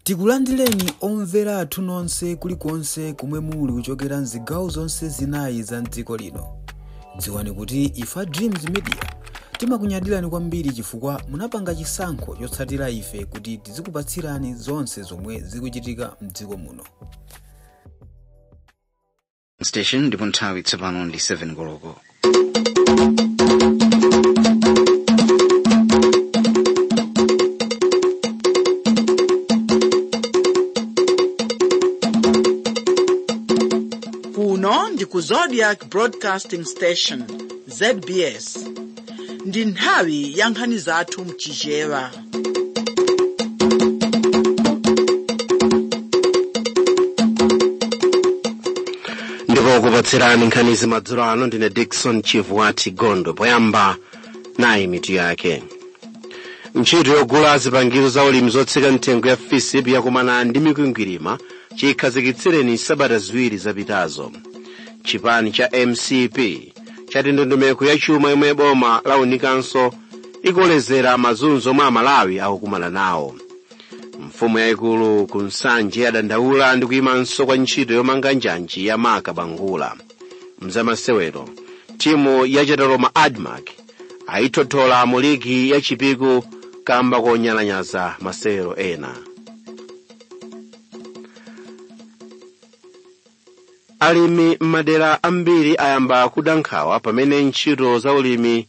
Tikulandireni omvera athu nonse kulikonse komwe muli kuchokera mzigawo zonse zinayi za mdziko lino. Dziwani kuti ife a Dreams Media timakunyadirani kwambiri chifukwa munapanga chisankho chotsatira ife kuti tizikupatsirani zonse zomwe zikuchitika mdziko muno. station ndipo nthawi tsopano ndi 7 koloko kuno ndi ku zodiac broadcasting station zbs ndi nthawi ya nkhani zathu mchichewa ndipo okupatsirani nkhanizi madzulo ano ndine dickson chivwati gondwe poyamba nayi mitu yake ntchito yogula zipangizo za ulimi zotsika mtengo ya fisip yakumana ndi mikwingwirima chikhazikitsireni sabata ziwiri zapitazo chipani cha mcp chati ndondomeko ya chuma yomwe boma launikanso ikolezera mazunzo omwe amalawi akukumana nawo mfumu yayikulu ku nsanje yadandaula ndi kuyimanso kwa ntchito yomanga njanji ya marka bangula mzamasewero timu ya chataloma admarc ayithothola mu ligi ya chipiku kamba konyalanyaza masewero ena alimi m'madera ambiri ayamba kuda nkhawa pamene ntchito za ulimi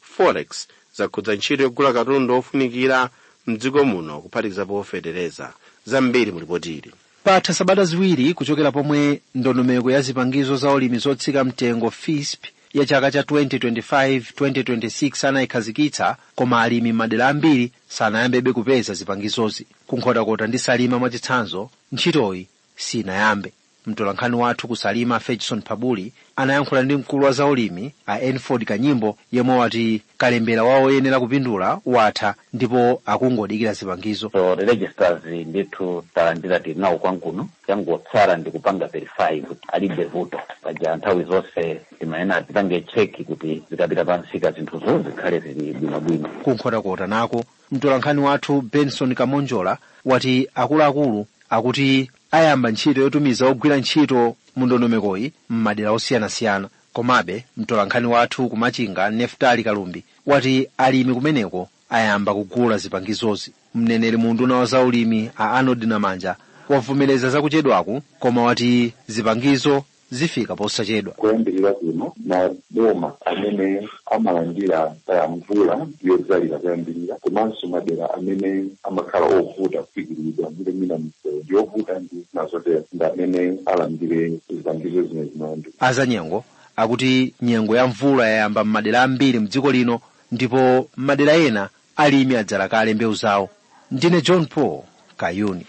forex zakhudza ntchito yogula katundu wofunikira mdziko muno kuphatikizapo fetereza zambiri mu lipotili patha sabata ziwiri kuchokera pomwe ndondomeko ya zipangizo za ulimi zotsika mtengo fisp ya chaka cha 2025-2026 anayikhazikitsa koma alimi m'madera ambiri sanayambebe kupeza zipangizozi ku nkhotakota ndi salima mwachitsanzo ntchitoyi sinayambe Mtolankhani wathu ku Salima Ferguson Phabuli anayankhula ndi mkulu wa zaulimi a Enford Kanyimbo yemwe wati kalembera wa oyenera kupindula watha ndipo akungodikira zipangizo. so the registers ndithu talandira tinawo kwathu kuno changotsala ndi kupanga verify kuti alibe vuto paja nthawi zonse timayenera tipange cheki kuti zikapita pansika zinthuzo zikhale zili bwinobwino Ku Nkhotakota nako mtolankhani wathu Benson Kamonjola wati akuluakulu akuti ayamba ntchito yotumiza ogwira ntchito mu ndondomekoyi m'madera osiyanasiyana. Komabe, mtolankhani wathu ku Machinga, Neftali Kalumbi, wati alimi kumeneko ayamba kugula zipangizozi. Mneneri mu unduna wa zaulimi a Arnold Namanja wavomereza zakuchedwaku koma wati zipangizo zifika posachedwa. Koyambirira kuno, maboma amene amalandira kaya mvula yodzalira koyambirira komanso madera amene amakhala ovuta kufikiridwa ndi mwina misewu ndi yovuta ndi zina zotero ndi amene alandire zipangizo zimenezi. Malawi Azanyengo akuti nyengo ya mvula yayamba m'madera ambiri mdziko lino ndipo m'madera ena alimi adzala kale mbewu zawo. Ndine John Paul Kayuni.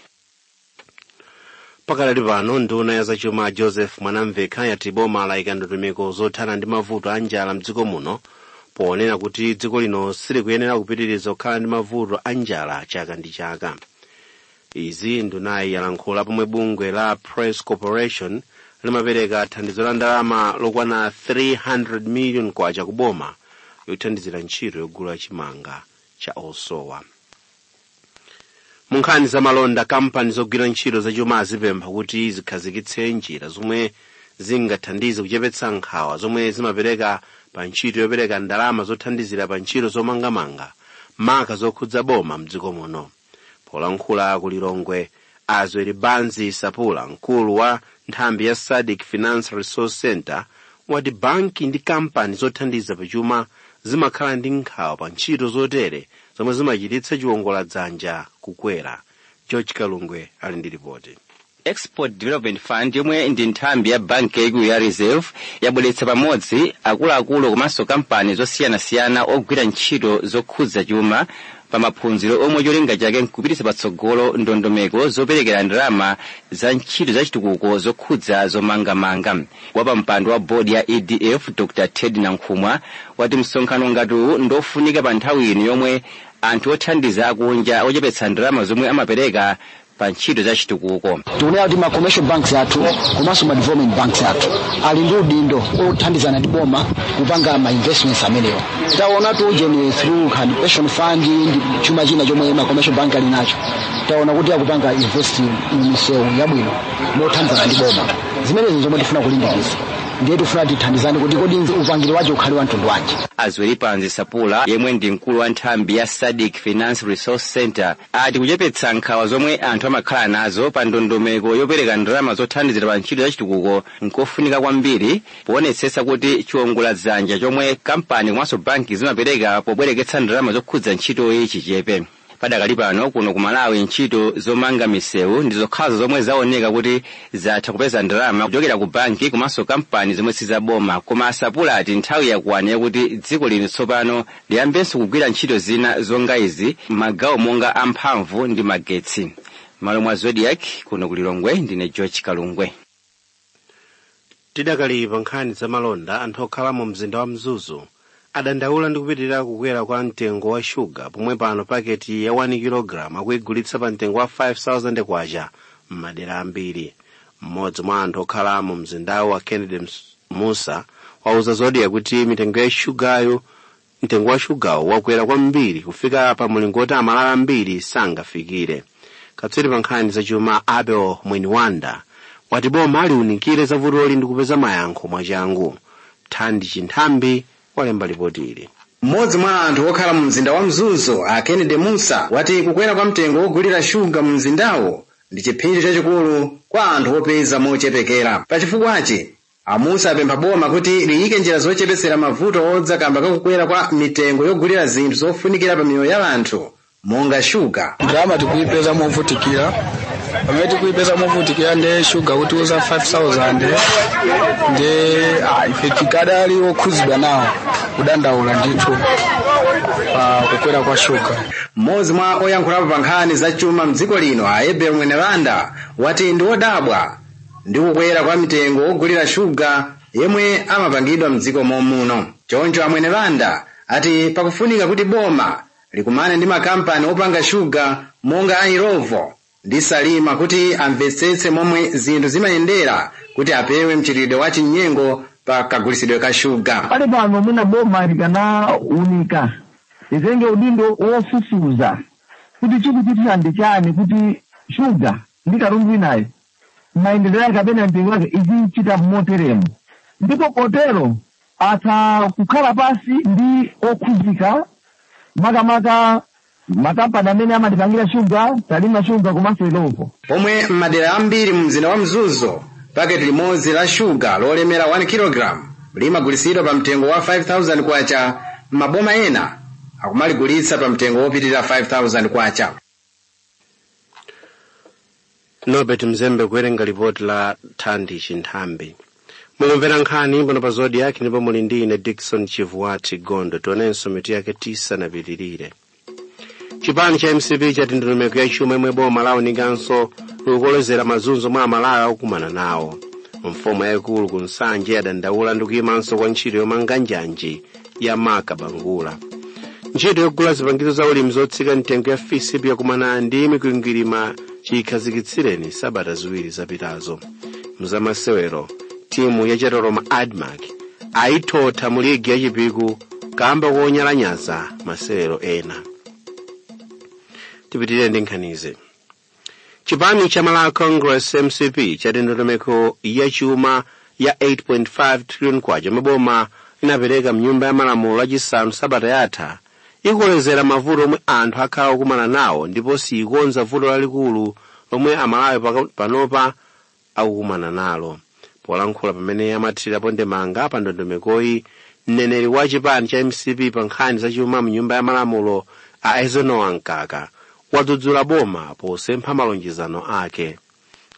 pakadali pano nduna ya zachuma joseph mwanamvekha yati boma layika ndondomeko zothana ndi mavuto a njala mdziko muno ponena kuti dziko lino silikuyenera kupitiriza kukhala ndi mavuto a njala chaka ndi chaka izi ndunayi yalankhula pomwe bungwe la press corporation limapereka thandizo la ndalama lokwana 300 million kwacha ku boma yothandizira ntchito yogula chimanga cha osowa mu nkhani za malonda kampani zogwira ntchito zachuma azipempha kuti zikhazikitse njira zomwe zingathandize kuchepetsa nkhawa zomwe zimapereka pa ntchito yopereka ndalama zothandizira pa ntchito zomangamanga maka zokhudza boma mdziko muno polankhula ku lilongwe a zwelibanzi sapula mkulu wa nthambi ya sadc finance resource center wati banki ndi kampani zothandiza pachuma zimakhala ndi nkhawa pa ntchito zotere zomwe zimachititsa chiwongola dzanja kukwera george kalungwe ali ndi ripoti export development fund yomwe ndi nthambi ya banki yaikulu ya reserve yabweretsa pamodzi akuluakulu komanso kampani zosiyanasiyana ogwira ntchito zokhudza chuma pa maphunziro omwe cholinga chake nkupititsa patsogolo ndondomeko zoperekera ndalama za ntchito za chitukuko zokhudza zomangamanga wapampando wa bodi ya edf dr ted nankhumwa wati msonkhano ngati uwu ndofunika pa nthawi ino yomwe anthu othandiza akunja achepetsa ndalama zomwe amapereka pa ntchito za chitukuko tikunena kuti ma commercial banks athu komanso ma development banks athu ali ndi udindo othandizana ndi boma kupanga ma investments amenewo taonatu ujeni through hand pension fund ndi chuma china chomwe ma commercial bank ali nacho taona kuti akupanga invest m'misewu yabwino mothandizana ndi boma zimenezi zomwe tifuna kulimbikitsa ndiye tifuna tithandizane kuti kodi upangiri wacho ukhale wa mtundu wanji a zwelibanzi sapula yemwe ndi mkulu wa nthambi ya sadc finance resource center ati kuchepetsa nkhawa zomwe anthu amakhala nazo pa ndondomeko yopereka ndalama zothandizira pa ntchito yachitukuko nkofunika kwambiri poonetsetsa kuti chiwongola dzanja chomwe kampani komanso banki zimapereka pobwereketsa ndalama zokhudza ntchitoyi chichepe padakali pano kuno ku malawi ntchito zomanga misewu ndi zokhazo zomwe zaoneka kuti zatha kupeza ndalama kuchokera ku banki komanso kampani zomwe sizaboma koma a sapula ati nthawi yakwana yakuti dziko lino tsopano Liyambenso kugwira ntchito zina zonga izi m'magawo monga a mphamvu ndi magetsi. M'malo mwa Zodiak, kuno ku Lilongwe ndine George Kalungwe. Tidakali pa nkhani za malonda, anthu okhala mu mzinda wa Mzuzu adandaula ndi kupitirira kukwera kwa mtengo wa shuga pomwe pano paketi ya 1 kg akuyigulitsa pa mtengo wa 5000 kwacha m'madera ambiri. mmodzi mwa anthu okhala mu mzindawu a Kennedy Musa wauza Zodiak kuti mtengo wa shugawo wakwera kwambiri kufika pa mulingo woti amalawi ambiri sangafikire katswiri pa nkhani zachuma abel mwenibanda wati boma liunikire za vutoli ndi kupeza mayankho mwachangu thandi chinthambi walemba lipoti ili mmodzi mwa anthu okhala mu mzinda wa mzuzu a kennedy musa wati kukwera kwa mtengo wogulira shuga mu mzindawo ndi chiphinjo chachikulu kwa anthu opeza mochepekera pachifukwachi amusa apempha boma kuti liyike njira zochepetsera mavuto odza kamba kakukwera kwa mitengo yogulira zinthu zofunikira pa miyoyo ya anthu monga shuga ndalama tikuipeza movutikira pamene tikuipeza movutikira nde shuga kuti uza 5000 nde ah, ife tikadali okhuzidwa nawo kudandaula ndithu pa kukwera kwa shuga Mmodzi mwa oyankhulapo pa nkhani za chuma mdziko lino a Abel Mwenibanda wati ndi wodabwa ndi kukwera kwa mtengo wogulira shuga yemwe amapangidwa mdziko momuno. Choncho a Mwenibanda ati pakufunika kuti boma likumane ndi makampani opanga shuga monga a Illovo ndi Salima kuti amvetsetse momwe zinthu zimayendera kuti apewe mchitidwe wa chinyengo pa kagulitsidwe ka shuga. pali pano mwina boma likanaunika litenge udindo wofufuza kuti chikuchitika ndi chani kuti shuga ndi katundu winayo mayendedwe ake kapena mtengo wake izichita moteremo ndipo potero atha kukhala pansi ndi okhudzika makamaka Makampani amene amatipangira shuga, Salima Sugar komanso Illovo. Pomwe m'madera ambiri mu mzinda wa Mzuzu, paketi limodzi la shuga lolemera 1 kilogalamu limagulitsidwa pa mtengo wa 5,000 kwacha, m'maboma ena akumaligulitsa pa mtengo wopitirira 5,000 kwacha. norbert mzembe kuwerenga lipoti la thandi chinthambi mukumvera nkhani pano pa Zodiak ndipo muli ndi ine dickson chivuwati gondo tionenso mitu yake tisanapitirire chipani cha mcp chati ndondomeko ya chuma yomwe boma launikanso ikukolezera mazunzo omwe amalawi akukumana nawo mfumu yayikulu ku nsanje yadandaula ndi kuyimanso kwa ntchito yomanga njanji ya marka bangula ntchito yogula zipangizo za ulimi zotsika mtengo ya fisp yakumana ndi mikwingwirima chikhazikitsireni sabata ziwiri zapitazo mzamasewero timu ya chatoloma admarc ayithotha mu ligi ya chipiku kamba konyalanyaza masewero ena tipitirire ndi nkhanizi chipani cha malawi congress mcp chati ndondomeko ya chuma ya 8.5 trillion kwacha yomwe boma linapereka mnyumba ya malamulo lachisanu sabata yatha ikolezera mavuto omwe anthu akhala okumana nawo ndipo siyikonza vuto lalikulu lomwe amalawi panopa akukumana nalo polankhula pamene amathirirapo ndemanga pa ndondomekoyi mneneri wa chipani cha mcp pa nkhani zachuma mnyumba ya malamulo a eisenhower mkaka wadzudzula boma posempha malonjezano ake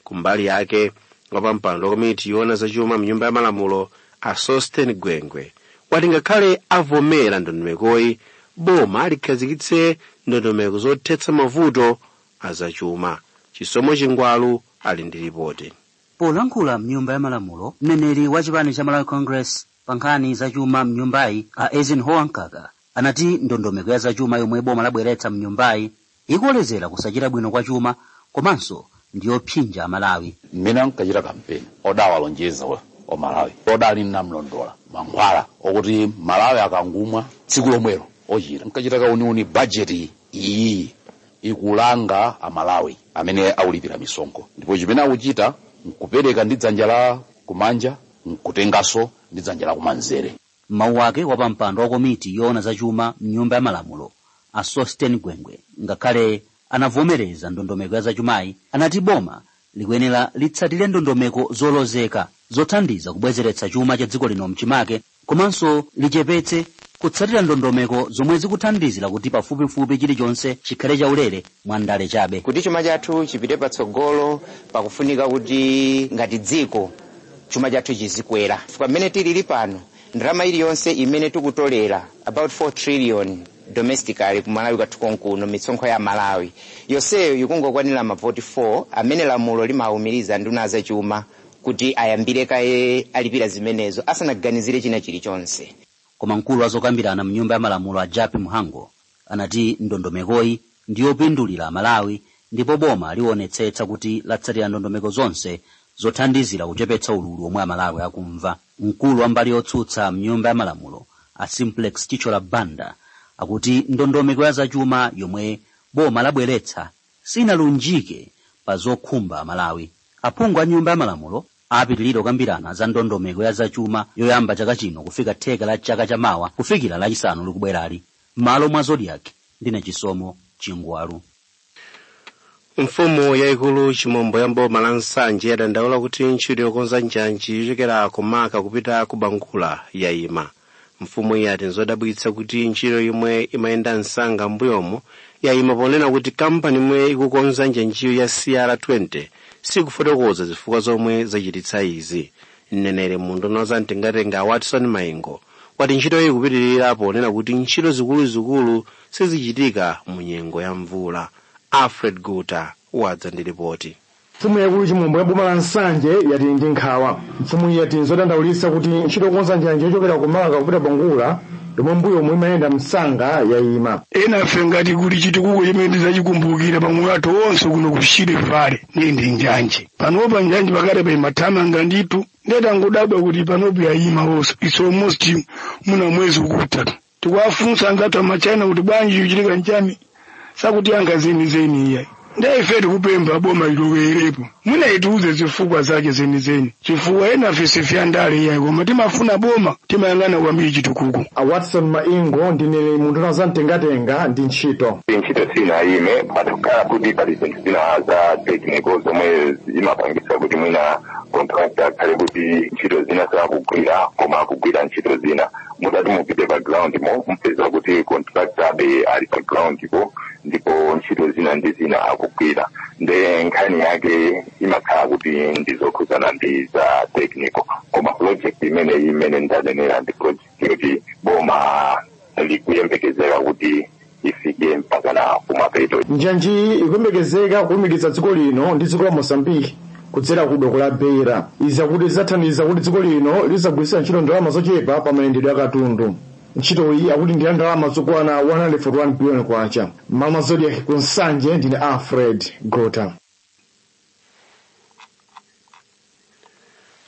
kumbali yake wapampando wa komiti yoona zachuma mnyumba ya malamulo a sosten gwengwe wati ngakhale avomera ndondomekoyi boma likhazikitse ndondomeko zothetsa mavuto a zachuma chisomo chingwalu ali ndi lipoti Polankhula mnyumba ya malamulo, mneneri wa chipani cha Malawi Congress pa nkhani za chuma mnyumbayi a Eisenhower Mkaka anati ndondomeko ya zachuma yomwe boma labweretsa mnyumbayi ikolezera kusachita bwino kwa chuma komanso ndiyopsinja Amalawi. mmene ankachita kampeni odawalonjeza omalawi odali namlondola mankhwala okuti amalawi akangumwa tsiku lomwelo ochira nkachita kauniuni bajeti iyi ikulanga amalawi amene akulipira misonkho ndipo chimene akuchita nkupereka ndi dzanja la kumanja nkutenganso ndi dzanja la kumanzere m'mawu ake wapampando wa komiti yoona zachuma mnyumba ya malamulo a sosten gwengwe ngakhale anavomereza ndondomeko ya zachumayi anati boma likuyenera litsatire ndondomeko zolozeka zothandiza kubwezeretsa chuma cha dziko lino mchimake komanso lichepetse kutsatira ndondomeko zomwe zikuthandizira kuti pafupifupi chilichonse chikhale chaulere mwa ndale chabe. Kuti chuma chathu chipite patsogolo pakufunika kuti ngati dziko chuma chathu chizikwera chifukwa mmene tilili pano ndalama iliyonse imene tikutolera about 4 trillion domestically ku Malawi kwathu konkuno mitsonkho ya Malawi yonseyo ikungokwanira mavoti 4 amene lamulo limaumiriza nduna zachuma kuti ayambire kaye alipira zimenezo asanaganizire china chilichonse koma mkulu wa zokambirana mnyumba ya malamulo a jappie mhango anati ndondomekoyi ndi yopindulira amalawi ndipo boma liwonetsetsa kuti latsatira ndondomeko zonse zothandizira kuchepetsa ululu omwe amalawi akumva mkulu wa mbali yotsutsa mnyumba ya malamulo a simplex chithyola banda akuti ndondomeko ya zachuma yomwe boma labweretsa sinalunjike pa zokhumba Amalawi. Aphungu a Nyumba ya Malamulo apitilira kukambirana za ndondomeko ya zachuma yoyamba chaka chino kufika theka la chaka cha mawa kufikira Lachisanu likubwerali. M'malo mwa Zodiak, ndine Chisomo Chingwalu. Mfumu yaikulu Chimombo ya m'boma la Nsanje yadandaula kuti ntchito yokonza njanji yochokera ku Marka kupita ku Bangula yayima. mfumu iyi ati nzodabwitsa kuti ntchito yomwe imayenda msanga m'mbuyomo yayima ponena kuti kampani yomwe ikukonza njanjiyo ya cr20 sikufotokoza zifukwa zomwe zachititsa izi mneneri mu unduna wa za mtengatenga a watson maingo wati ntchitoyi ikupitirira ponena kuti ntchito zikuluzikulu sizichitika mu nyengo ya mvula alfred gota wadza ndi ripoti Mfumu yaikulu Chimombo ya boma la Nsanje yati ili ndi nkhawa. Mfumuyi yati nzodandaulitsa kuti ntchito yokonza njanji yochokera ku Marka kupita Bangula yomwe m'mbuyomu imayenda msanga yayima. ena a ife ngati kuli chitukuko chimene tidzachikumbukira pa moyo wathu wonse kuno ku shire vale ndiye ndi njanji panopa njanji pakatipa imathamanga ndithu nde tangodabwa kuti panopo yayima yonse it's almost mwina mwezi ukutha tikuwafunsa anzathu a ma China kuti bwanji chikuchitika nchani sakutiyankha zenizeni iyayi ndiye ife tikupempha boma lilowerepo mwina litiuze zifukwa zake zenizeni chifukwa enafe si a ndale iyayi koma timafuna boma timayang'ana kwambiri chitukuko a watson maingo mneneri mu unduna wa za mtengatenga ndi ntchito ntchito sinayime patakhala kuti pali zinthu zina za technical zomwe zimapangisa kuti mwina contractor akhale kuti ntchito zina sakugwira koma akugwira ntchito zina mutati mupite pa ground mo mupeza kuti contractor adakali pa ground po ndipo ntchito zina ndi zina akugwira nde nkhani yake imakhala kuti ndizokhudzana ndi za technical koma project mmene mmene ndanenera ndi project yoti boma likuyembekezera kuti ifike mpakana kumapeto. njanjiyi ikuyembekezeka kulumikiza dziko lino ndi dziko la mozambique kudzera ku doko la beira izi akuti zidzathandiza kuti dziko lino lizigwiritsa ntchito ndalama zochepa pa mayendedwe a katundu ntchitoyi akuti ndi ya ndalama zokwana 141 biliyoni kwacha m'malo mwa zodiak ku nsanje ndine alfred gota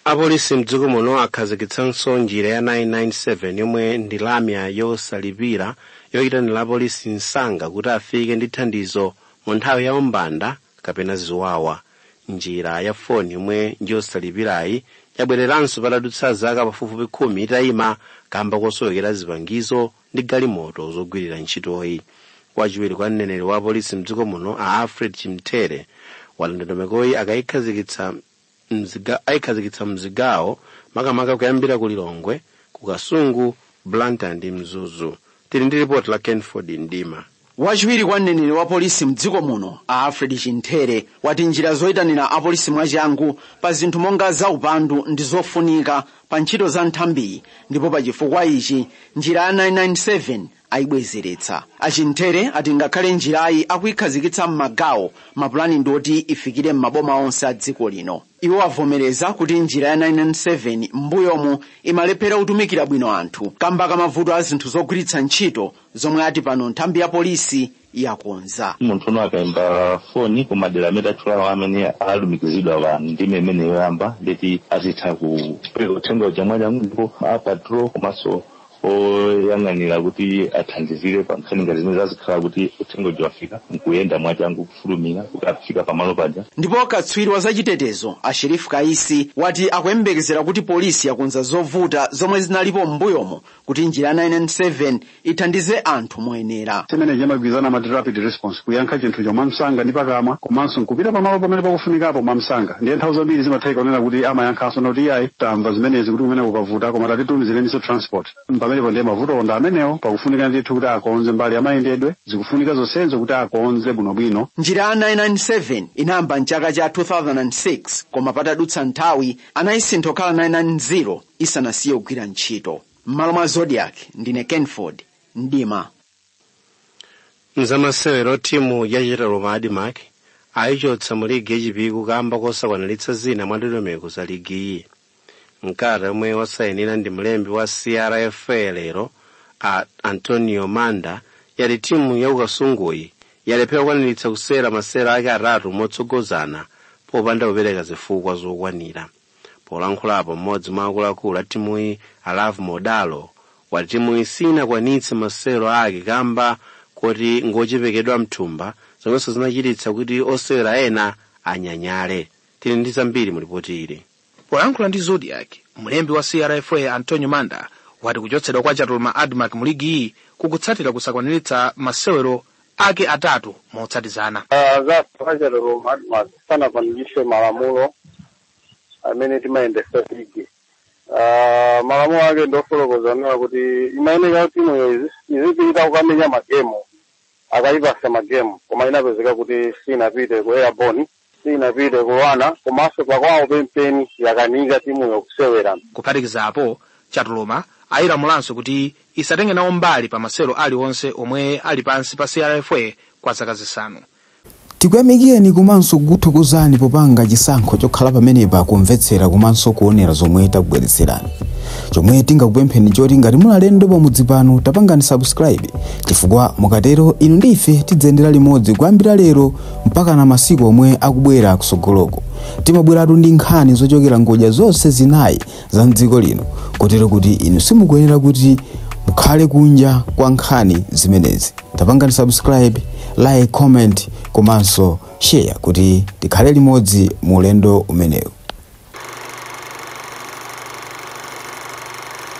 apolisi mdziko muno akhazikitsanso njira ya 997 yomwe ndi lamya yosalipira yoyitanira apolisi msanga kuti afike ndi thandizo mu nthawi ya umbanda kapena ziwawa njira ya foni yomwe njosalipirayi yabwereranso patadutsa zaka pafupifupi khumi itayima kamba kosowekera zipangizo ndi galimoto zogwirira ntchitoyi wachiwiri kwa mneneri wa apolisi mdziko muno a alfred chimthere wati ndondomekoyi akayikhazikitsa mzi- ayikhazikitsa mzigawo makamaka kuyambira ku lilongwe ku kasungu blantyre ndi mzuzu tili ndi ripoti la kenford mdima Wachiwiri kwa mneneri wa polisi mdziko muno a Alfred Chinthere wati njira zoitanira apolisi mwachangu pa zinthu monga za upandu ndi zofunika pa ntchito za nthambiyi ndipo pa chifukwa ichi njira ya 997 ayibwezeretsa. A Chinthere ati ngakhale njirayi akuyikhazikitsa m'magawo mapulani ndi oti ifikire m'maboma onse a dziko lino. Iwo avomereza kuti njira ya 997 m'mbuyomu imalephera kutumikira bwino anthu kamba ka mavuto a zinthu zogwiritsa ntchito zomwe ati pano nthambi ya polisi yakonza munthu akaimba foni ku madera amene tatchulawo amene alumikizidwa pa ndime imene yoyamba ndeti azitha kupereka uthenga uja mwachangu ndipo a patrol komanso oyang'anira kuti athandizire pa nkhani ngati zimene zazikhala kuti uthenga uja wafika nkuyenda mwachangu kufulumira kuti afika pamalo paja ndipo katswiri wa zachitetezo a Sheriff Kaisi wati akuyembekezera kuti polisi yakonza zovuta zomwe zinalipo m'mbuyomo kuti njira ya 997 ithandize anthu moyenera chimene chimadziwika amati rapid response kuyankha chinthucho mwamsanga ndi pakamwa komanso nkupita pamalo pamene pakufunikapo mwamsanga ndiye nthawi zambiri zimatheka kunena kuti amayankhanso kuti iyayi tamva zimenezi kutiko mwina kukuvuta koma tatitumizireninso transport pamenepo ndiye mavuto onga amenewo pakufunika ndithu kuti akonze mbali yamayendedwe zikufunika zonsezo kuti akonze bwinobwino njira ya 997 inayamba mchaka cha 2006 koma patadutsa nthawi anayisintha kukhala 990 isanasiye kugwira ntchito. M'malo mwa Zodiak, ndine Kenford Mdima. mzamasewero timu ya Chatoloma Admarc ayichotsa mu ligi ya Chipiku kamba kosakwaniritsa zina mwa ndondomeko za ligiyi mkalata yomwe wasayinira ndi mlembi wa crfa a Antonio manda yati timu ya ku Kasunguyi yalephera kukwaniritsa kusewera masewero ake atatu motsogozana popanda kupereka zifukwa zokwanira polankhulapo mmodzi mwa akuluakulu a timuyi alavu modalo wati timuyi sinakwanitse masewero ake kamba koti ngochepekedwa mthumba zomwenso zinachititsa kuti osewera ena anyanyale tili ndi zambiri mu lipoti ili polankhula ndi Zodiak mlembi wa crfa antonio manda wati kuchotsedwa kwa Chatoloma Admarc mu ligiyi kukutsatira kusakwaniritsa masewero ake atatu motsatizana. a Chatoloma Admarc sanakwanilitse malamulo amene timayendesa ligi Ah, malamulo ake ndofotokoza kunena kuti imayeneka kuti timuyo izi- izipita kukamenya magemu akayipasa magemu koma inapezeka kuti sinapite ku airborne sinapite kuwana komanso pakwawo pempeni yakanika timu yokusewera kuphatikizapo chatuluma ayilamulanso kuti isatenge nawo mbali pa masewero aliwonse omwe ali pansi pa crfa kwa zaka zisanu tikuyamikeni komanso kukuthokozani popanga chisankho chokhala pamenepa kumvetsera komanso kuonera zomwe takubweretserani chomwe tingakupempheni choti ngati muli alendo pamudzi pano tapangani subscribe chifukwa mukatero inu ndi ife tidziyendera limodzi kuyambira lero mpaka na masiku omwe akubwera kusogoloko timabweratu ndi nkhani zochokera ngodya zonse zinayi za mdziko lino kotero kuti inu simukuyenera kuti mukhale kunja kwa nkhani zimenezi tapangani subscribe like comment komanso share kuti tikhale limodzi mu ulendo umenewu